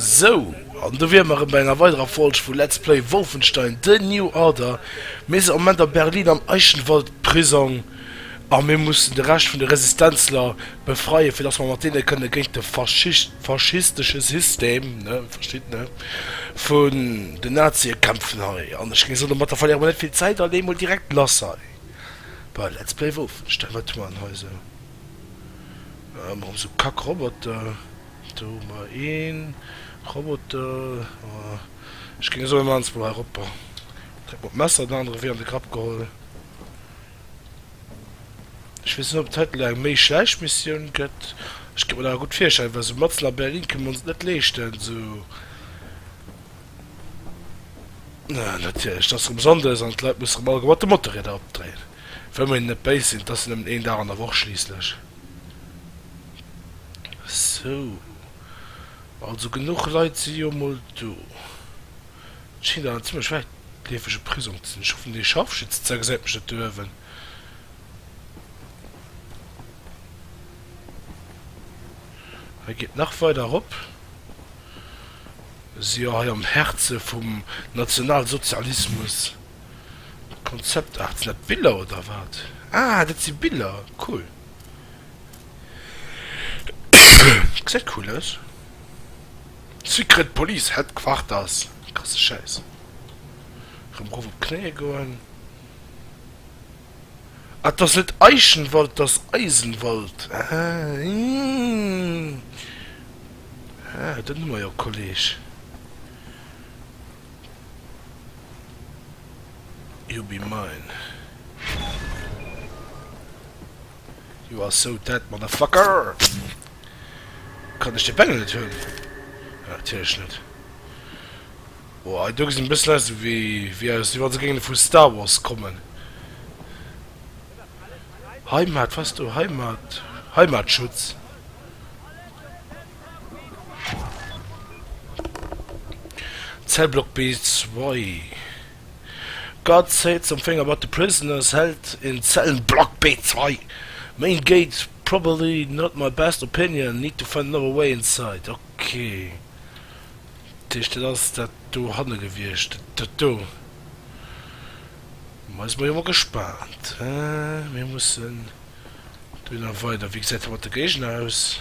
Sou, an do wiere mer erëm bei enger weiderer Folg vu Let's Play Wolfenstein, The New Order. Mir sinn am Moment a Berlin am Eichenwald-Prisong a mir mussen de Rescht vun de Resistenzler befreien, fir dass mer mat deene kënne géint de faschistesche System, ne, verstitt, ne, vun den Nazie kämpfen hei. An ech géing soen, domatter verléiere mer net vill Zäit a leeë mol direkt lass hei bei Let's Play Wolfenstein. Wat hu mer dann hei esou? Ëmmer rëm sou Kack Roboter. Do hu mer een Roboter, ech géing soen Mann's blo hei ropper. Direkt mat Messer den anere wee an de Grapp geholl. Ech weess net op et hei elo eng méi schlecht Missioun gëtt, ech kéint mer dat awer gutt virstellen, well sou matzen a Berlin kënne mer ons et net leeschten sou. Natierlech, et ass rëm Sonndes an d'Leit musse rëm alleguer mat de Motorrieder opdréinen. Wëll mer hinnen net béis sinn, 't ass jo nëmmen een Dag an der Woch schliisslech. Sou, also genuch Leit si jo mol do. 't schéngt awer en zimmlech wäitleefege Prisong ze sinn. Ech hoffen, dee Scharfschützenzeil gesäit mech net do uewen. Hei geet nach weider erop. Mir si jo hei am Häerze vum Nationalsozialismus. Konzept Art, sinn dat Biller oder wat? Ah dat si Biller, cool. Gesäit cool aus. Secret Police Headquarters, krasse Schäiss. Erëm erof op d'Knéie goen. Ah dat ass net Eichenwald, dat ass Eisenwald. Ah ih, ah dat hu mer jo Kolleg. You be mine. You are so dead, motherfucker! Kann ech de Bengel net hunn? Ja, natierlech net. Boah, do gesinn bëssen aus wéi, wéi aus, wéi wann se géinge vu Star Wars kommen. Heimat, was du? Heimat? Heimatschutz? Cell Block B2 Guard say something about the prisoners held in Cell Block B2 Main gate probably not my best opinion, need to find another way inside Ok, dat heescht dat ass dat do hanne gewiescht, dat do. Ma si mer jo mol gespaant. Mir mussen dohinner weider. Wéi gesäit dat mat de Géigner aus?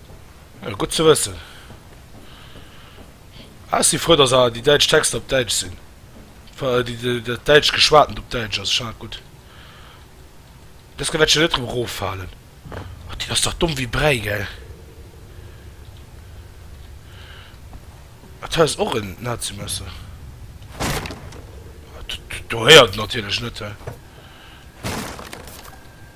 Gutt ze wëssen. Ah, ech si frou, dass awer déi däitsch Texter op Däitsch sinn. Dat däitscht Geschwatent op Däitsch ass schon gutt. Deska wäert ech jo net drop eroffalen. Oh, déi ass dach domm wéi Bräi, gell? Dat hei ass och en Nazimesser. Do héiert en natierlech net, he.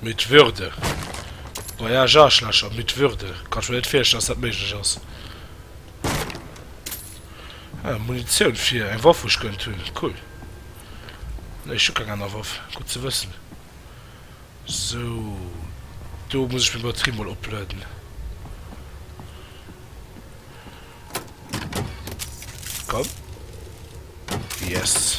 Mit Würde. Voyage Aarschlächer, mit Würde. Kanns mer net virstellen dass dat méiglech ass. Ah, Munitioun fir eng Waff wou ech gönnt hunn, cool. Nee ech hu keng aner Waff, gutt ze wëssen. Sou, do muss ech meng Batterie mol opladen. Komm. Yes.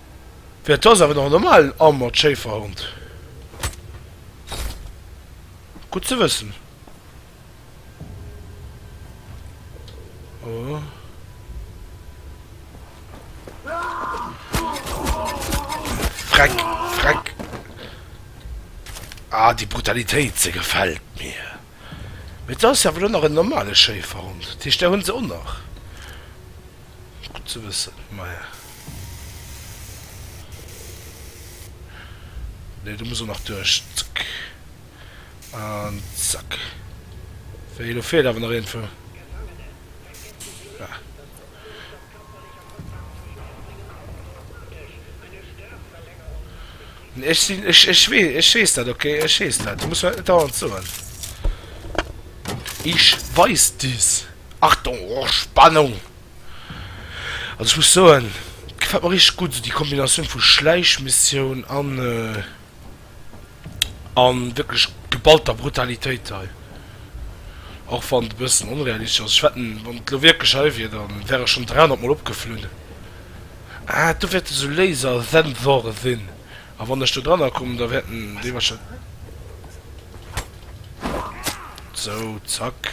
Mä et ass awer nach en normalen Armored Schéiferhond. Gutt ze wëssen. Oh. Freck, Freck. Ah, déi Brutalitéit, se gefält mir. Mee et ass awer elo nach en normale Schéiferhond, dat heescht, där hu se och nach. Gutt ze wëssen, maja. Nee, do muss och nach duerch. Zack. An zack. Wéi, elo feelt awer nach een vu. Ah. Ech sinn, ech, ech wee, ech weess dat, ok? Ech weess dat. Du muss mer dat net dauernd soen. Ich weiß dies. Achtung, oh, Spannung! Also ech muss soen, gefällt mer richtig gutt, déi Kombinatioun vu Schläichmissioun an, An wierklech geballter Brutalitéit hei, och wann et e bëssen onrealistesch ass. Ech wetten, wann et elo wierklech hei wier, da wäre ech schonn 300 Mol opgeflunn. Ah, do wäerte esou Lasersensoren sinn, a wann ech do dranner kommen, da wäerten déi warscheinlech. Sou, zack.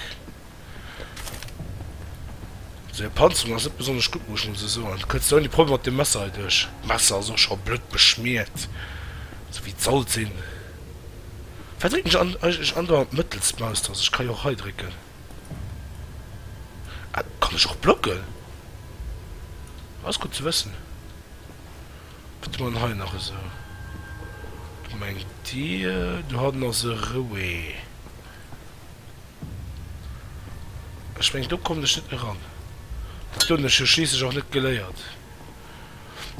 Seng Panzerung ass net besonnesch gutt, muss ech mol sou soen. Du kënns net ouni Problem mat deem Messer hei duerch. D'Messer ass och scho blutt beschmiert, sou wéi et sollt sinn. Wéi drécken ech an, eigentlech an der mëttelst Maustaste? Ech ka jo och hei drécken. Ah, kann ech och blocken? Dat ass gutt ze wëssen. Wat hu mer dann hei nach esou? Gemengt Dir, du haten ass e Rouet. Ech mengen do kommen ech net méi ran. Dat hunn ech jo schliisslech och net geléiert.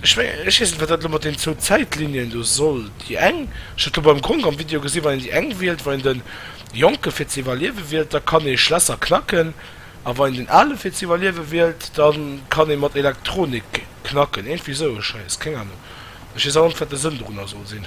Ech mengen, ech weess net wat dat elo mat den zwou Zäitlinien do soll. Déi eng, ech hat elo beim Gronk am Video gesinn, wann een déi eng wielt, wann een de Jonke fir ze iwwerliewe wielt, da kann ee Schlässer knacken, a wann een den Ale fir ze iwwerliewe wielt, da kann ee mat Elektronik knacken. Iergendwéi esou e Schäiss, keng Anung. Ech weess awer net wat de Sënn dorunner soll sinn.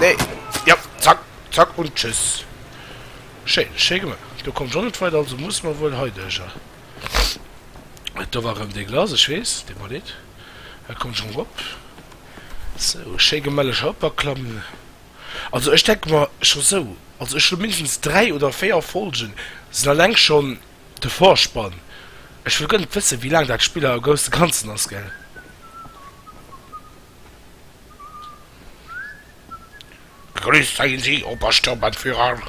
Nee, ja, zack, zack und tschüss. Schéi, schéi gemaach. Do kommt jo net weider, also muss mer wuel hei duerch. Et do war rem dee Glas, ech weess, dee Manet, e kommt schon rop. Sou, schéi gemelleg eropaklammen. Also ech denke mer, scho sou, also ech hu mindestens 3 oder 4 Folgen, sinn alleng schon. De Vorspann, Ech wëll guer net wëssen wéi laang dat Spiller a gousse ganzen ass gell. Begrüsst seien Sie, Obersturmbannführer.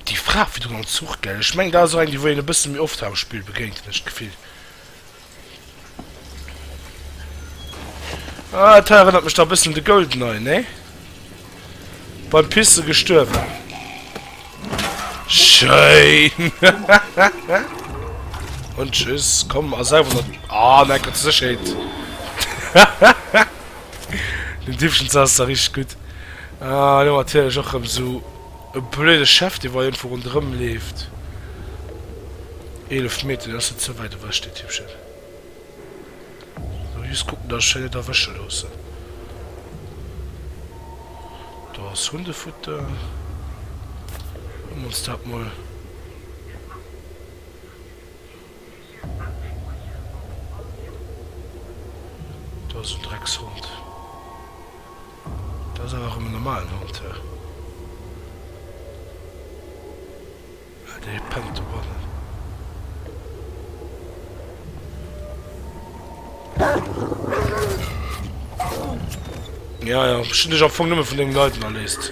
Déi Fra virdrun am Zuch gell, ech mengen dat ass och eng déi wou een e bësse méi oft hat am Spill begéint hunn ech d'Gefill. Ah, dat hei erënnert mech da e bëssen un de Goldeneye, nee? Beim Pisse gestuerwen. Schéin! Und tschüss, komm, a selwer noch... Ah, nein, Gott, so schön. Den Diebchen saß da richtig gut. Ah, nur natürlich auch so... E blöde Chef, dee weiendwou ronderëm leeft. Eelef Meter, dat ass net ze wäit ewech, dee Typchen. Elo just kucken, dass ech hei net erwësche loossen. Do ass Hundefutter. Huele mer ons dat mol. Do ass en Dreckshond. Dat ass awer erëm en normalen Hond hei. Ah, dee pennt dobannen. Jo, jo, ech hunn dech am Fong nëmme vun deenen Leiden erléist.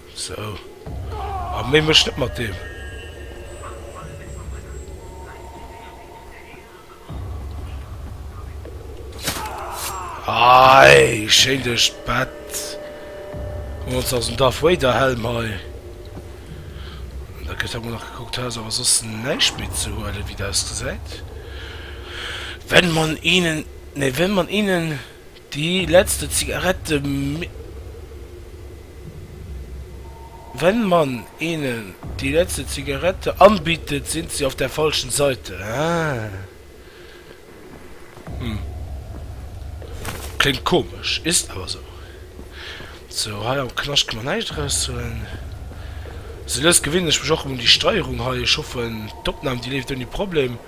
Sou, a méi méch net mat deem. Aai, schéin duerch d'Bett. Komm, ons aus dem Darth Vader Helm hei. Da gëtt emol nach gekuckt, hei ass awer soss näischt méi ze huelen, wéi et ausgesäit. Wenn man ihnen, nee, wenn man ihnen. Déi letzte Zigarette Min. Wenn man ihnen die letzte Zigarette anbietet, sind sie auf der falschen Seite. Hm. Klingt komisch, ist aber so. Sou hei am Knascht ka mer näischt eraus huelen. Se lësst gewéinlech mech och un déi Steierung hei. Ech hoffen d'Opnahm déi leeft ouni Problem.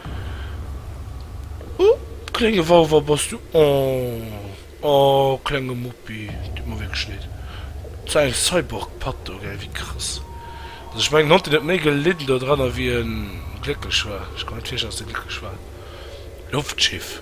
Huh klénge Wauwer bass du oh oh klenge Muppi tut mer wierklech leed. Sou eng Cyborg Patt do gell wéi krass also ech mengen en Hond deen huet méi gelidden do dran a wéi en glécklech war. Ech kann mer net virstellen dass dee glécklech war. Loftschiff.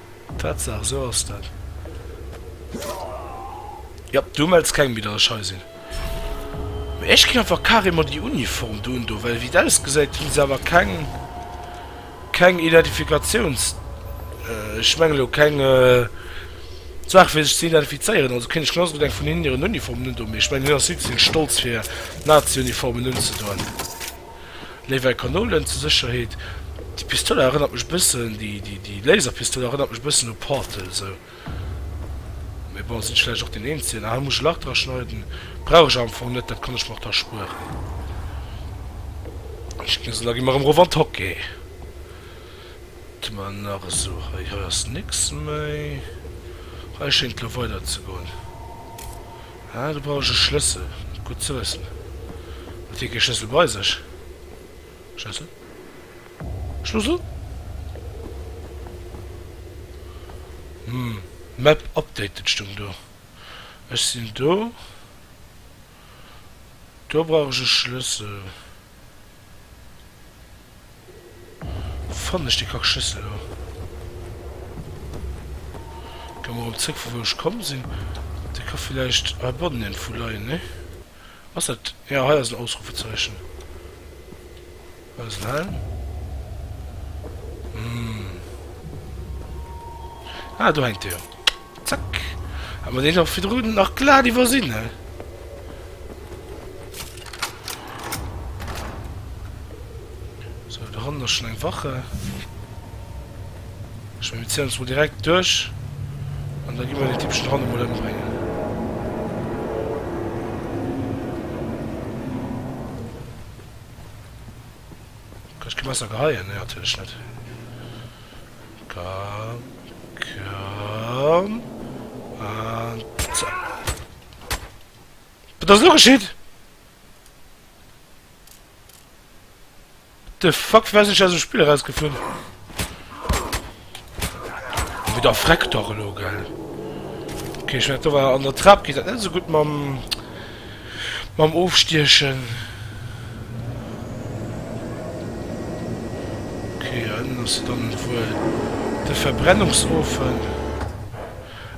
Tatsaach, esou ass dat. Jop, do mells keng méi, datt ech hei sinn. Mee ech ginn einfach carrément déi Uniform do un do, well wéi et ausgesäit hunn se awer keng, keng Identifikatiouns, ech mengen elo keng Saach fir sech ze identifizéieren. Also kéint ech genauso gutt eng vun hinnen hiren Uniformen un do, mee ech mengen hien ass vill ze vill stolz fir Nazi-Uniformen unzedoen. Léiwei Kanolen zur Sécherheet. Déi Pistola erënnert mech e bëssen, déi Laserpistola erënnert mech e bëssen u Portal esou. Mee bon, sinn ech vläicht och deen Eenzegen? Ah, hei muss ech e Lach dra schneiden. Brauch ech awer am Fong net, dat kann ech mer och da spueren. Schnëssel, da gi mer erëm erof an d'Hockey. Wat hu mer nach esou hei? Hei ass nix méi. Hei schéngt elo weiderzegoen. Ah, do brauch ech e Schlëssel, gutt ze wëssen. Huet hie kee Schlëssel bei sech? Schlëssel? Schlussel? Hm, Map updated stoung do. Ech sinn do. Do brauch ech e Schlëssel. Fannen ech déi kack Schüssel do? Goung mer erëm zréck vu wou ech komm sin. Dei ka villäicht hei bannen iergendwou leien, nee? Ass dat, jo hei ass en Ausrufezeichen. Hei ass en Helm. Hm. Ah do hänkt e jo. Zack. Hat mer deen och virdrun nach glat iwwersinn, he? So, do hannen ass schon eng Wache. Ech mengen, mir zéien ons mol direkt duerch. An da gi mer den Dippchen hanne mol ëmbréngen. Kann ech ke Messer geheien? Nee, natierlech net. Komm, komm an zack. Wat ass elo geschitt? What the fuck, wéi ass ech aus dem Spill erausgeflunn? Wéi der Freck dach elo, gell? Okay, ech mengen, do war an der Trap geet dat net esou gutt mam... mam ofstiechen. Ok a ënnen ass dann wuel de Verbrennungsofen.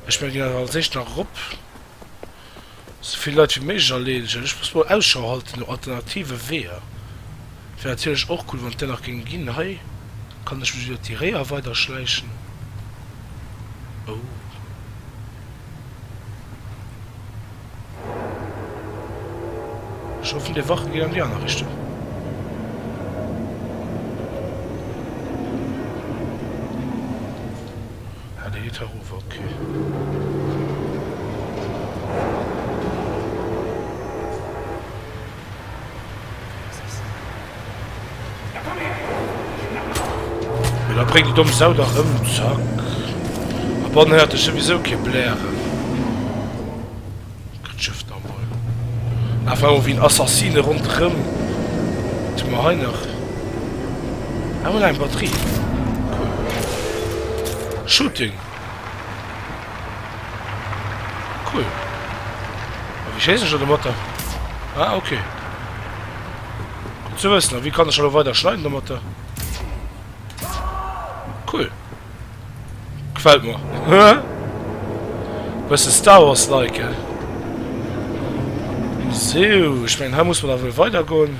Ech mengen deen ass als éischt nach erop. Souvill Leit wéi méiglech erleedegen. Ech muss mol Ausschau halte no alternative Weeër. Et wär natierlech och cool wann et där nach géing ginn. Hei kann ech mech iwwert déi Réier weider schläichen. Oh. Ech hoffen dei Wache geet an déi aner Richtung. Ah dei geet herover, ok. Mee da bréng déi domm Sau dach ëm, Zack. A bonne heure, et ass souwisou kee Blären. Kritt d'Schëff nach emol einfach ewéi en Assassine ronderëm. Wat hu mer hei nach? Ah, voilà, eng Batterie. Cool. Shooting. Cool. Wéi schéisst ech dann domatter? Ah, ok. Gutt ze wëssen. A wéi kann ech elo weider schneiden domatter? Cool. Gefält mer. Bësse Star Wars-like, he? Sou, ech mengen, hei muss mer da wuel weidergoen.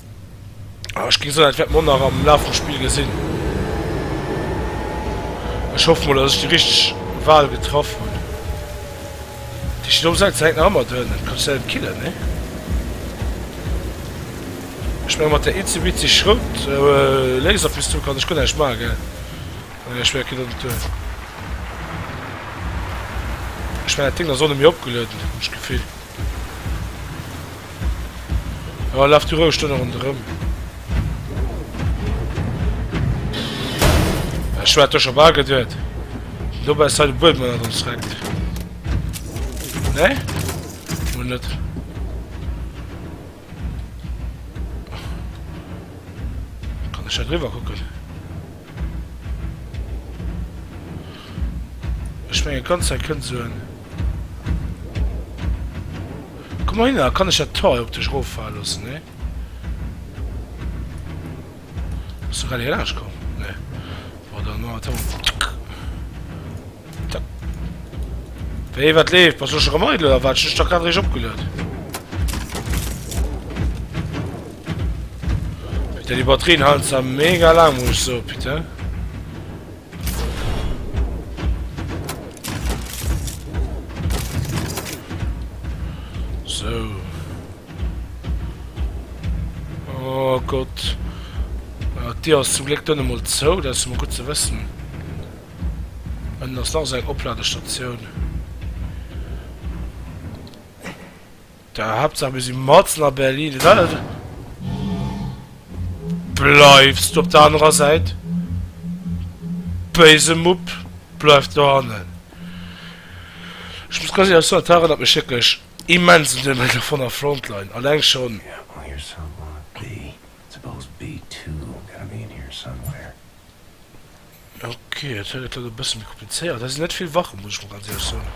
Ah, ech ginn soen, dat wäert mer nach am Laf vum Spill gesinn. Ech hoff mol, dass ech déi richteg Wal getraff hunn. Déi steet onsäit, se hänkt nach ëmmer drënn. Et kann sech selwer killen, nee? Ech menge mat der itzebitzeg Schrout, Laserpistol kann ech guer näischt maachen, gell? Ah nee, ech menge, et geet och net duer. Ech menge, dat Ding ass och net méi opgelueden, hunn ech d'Gefill. Oh, laf du roueg do ronderëm. Ech war do scho bal geduet. Do bei se de Buedem an ons rennt. Ne? Mo net. Kann ech da driwwer kucken? Ech mengen d'ganz Zäit kënnt esou en. Komm mol hinner, kann ech dat Tor hei op dech eroffalen loossen? Nee? Bass du grad hir laanscht komm? Nee. Bon, dann man wir et hei. Wéi, wat leeft? Bass du scho rem eidel oder wat? Ech hunn dech dach grad eréischt opgeluet. Peter, déi Batterien halen zwar mega laang, muss ech soen, Peter. So. Oh Gott. Äh, Dir ass zum Gléck dunn emol zou, dat ass emol gutt ze wëssen. Ënnen ass nach esou eng Opladestatioun. Da Haaptsaach mir si mat na Berlin. Bleiwts du op der anerer Säit. Béise Mupp, bleiw do hannen. Ech muss ganz éierlech soen, dat erënnert mech wierklech immens un den Medal von der Frontline, alleng schon. Ok, dat huet et dann e bësse méi komplizéiert. Hei sinn net vill Wachen, muss ech mol ganz éierlech soen.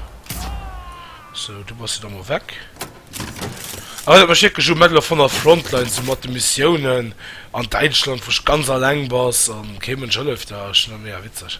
Sou, du bass jo da mol weg. Awer dat mech wierklech u Medal of Honor Frontline, sou mat de Missiounen an Däitschland, wou ech ganz alleng bass an kee Mënsch hëlleft der. Ass schon nach mega witzeg.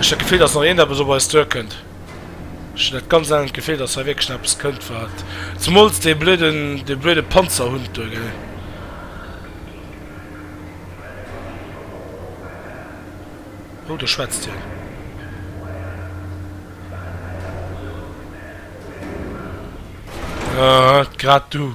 Ech hat d'Gefill, dass nach iergendeppes op eis duerkënnt. Ech hunn dat ganz elend Gefill, dass hei wierklech nach eppes kënnt, wat. Zemools dee blöden, dee blöde Panzerhund do, gell. Oh, do schwätzt hien. Ah, grad du.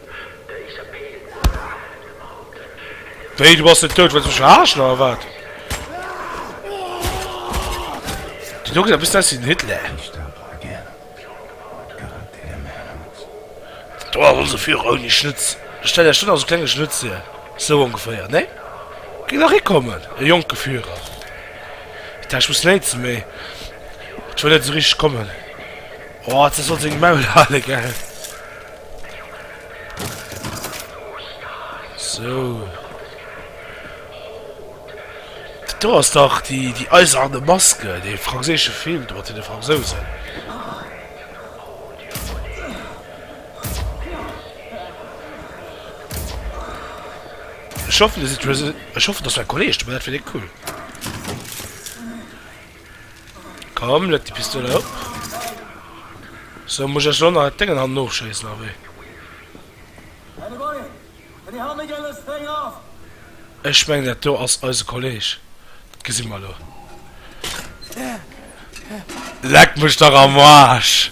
Wéi, du bass net dout? Wëlls mech verarschen oder wat? Déi do gesäit e bëssen aus wéi den Hitler. Do ass onse Führer ouni Schnutz. Stellt Iech dunn also klenge Schnutz hier. Sou ongeféier, nee? Géif nach hikommen, e jonke Führer. Ech daacht, ech muss léinze, mee et wëll net esou richteg kommen. Oh, dat sollt seng Maul hale, gell? So. Do ass dach déi, déi eiserne Maske, dee franséische Film, do mat den Fransousen. Ich hoffe, dass mein Kollege, dat wäre cool. Komm, leg déi Pistol erop. Sou, muss ech elo nach et déngen hannen ofschéissen, a wéi? Ech mengen, dat do ass eise Kolleg. Dat gesi mer elo. Leck mech dach am Aarsch!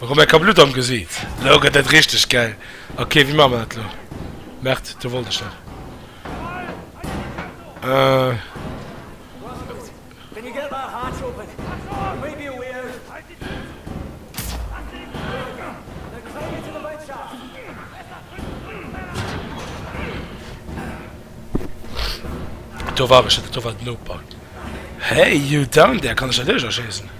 Rebecca, Blutt am Gesiit, elo gëtt et richteg gäil. Ok, wéi maache mer dat elo? Merde, do wollt ech dat. Do war ech net, do war den Opa. Hey, you down there, kann ech dat iech erschéissen?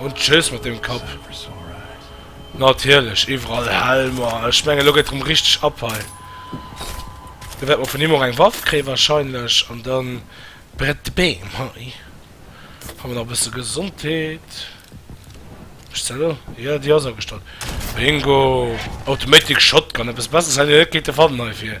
Und tschüss mit dem Kopf. Natürlich, überall Helmer. Ich meine, lo geht drum richtig ab hei. Da wird man von ihm auch eine Waffe kriegen wahrscheinlich. Und dann brennt die Beam. Hi. Haben wir noch ein bisschen Gesundheit. Ist der Ja, die ist angestellt. Bingo. Automatic Shotgun. Etwas besseres hätte ich nicht gefunden dafür.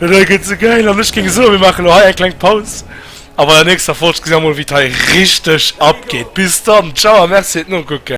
Dat hei gëtt ze gäil an ech géing soen, mir maachen elo hei eng kleng Paus a bei der nächster Folg gesi mer mol, wéi d'hei richteg abgeet. Bis dann, ciao a merci fir d'Nokucken.